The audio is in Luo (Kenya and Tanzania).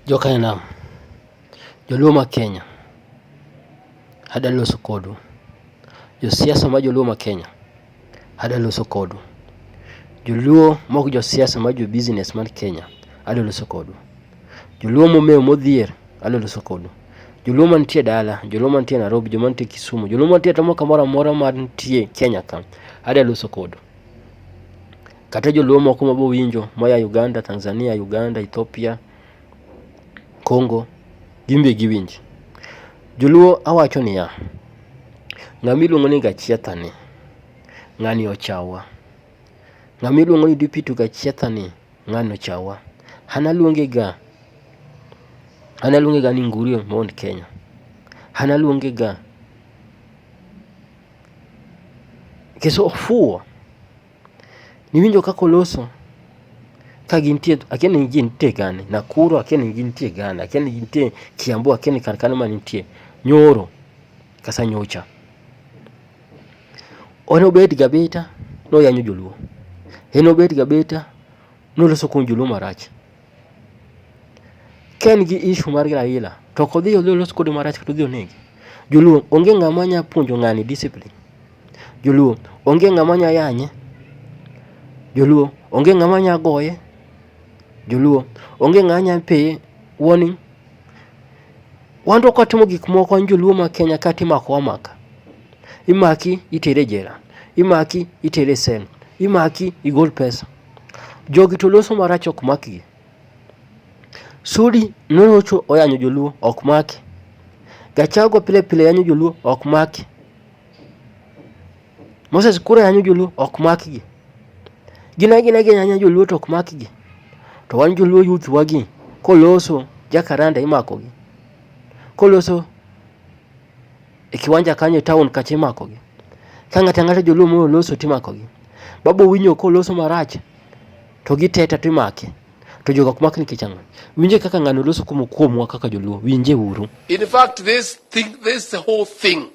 Jo kainam, joluo ma Kenya, adwa loso kodu. Jo siasa ma joluo ma Kenya, adwa loso kodu. Joluo ma ok jo siasa ma jo business man Kenya, adwa loso kodu. Joluo momew modhier, adwa loso kodu. Joluo mantie dala, joluo mantie Nairobi, joluo mantie Kisumu, joluo mantie kamoro amora mantie Kenya ka, adwa loso kodu. Kata joluo moko ma bowinjo moya Uganda, Tanzania, Uganda, Ethiopia, Congo, gin be giwinj. Joluo awacho niya, ng'ama iluongo ni gachietha ni, ng'ani ochawa. Ng'ama iluongo ni Dipitu gachietha ni, ng'ani ochawa. An aluonge ga, an aluonge ga ni Ngurie Mount Kenya. An aluonge ga nikech ofuwo. Niwinjo kaka oloso ka gintie, akia ni gintie gani, Nakuru akia ni gintie gani, akia ni gintie Kiambu akia ni kar kanyo ma gintie, nyoro kata nyocha. En obet ga abeta ni oyanyo joluo, en obet ga abeta ni oloso kuom joluo marach. Ka en gi issue mar Raila to ok odhi olos kode marach kata odhi onege. Joluo onge ng'ama nya puonjo ng'ani discipline. Joluo onge ng'ama nya yanye, joluo onge ng'ama nya goye, joluo onge ng'ama nya peye warning. Wan to kwatimo gik moko wan joluo ma Kenya ka timako wamaka. Imaki iteri e jela, imaki iteri e cell, imaki igol pesa. Jogi to loso marach ok makgi. Sudi norocho oyanyo joluo ok make, Gachagua pile pile yanyo joluo ok make. Moses koro yanyo joluo ok makgi. Gin agina gi yanyo joluo to ok makgi. To wan joluo youth wagi koloso jakaranda imakogi. Koloso e kiwanja kanyo e town kacha imakogi. Ka ng'ato ang'ata joluo moro oloso to imakogi. Babu Owinyo koloso marach to giteta to imake. To jogo ok mak nikech ang'o? Winje kaka ng'ano loso kuomwa kaka joluo. Winje uru. In fact, this thing, this whole thing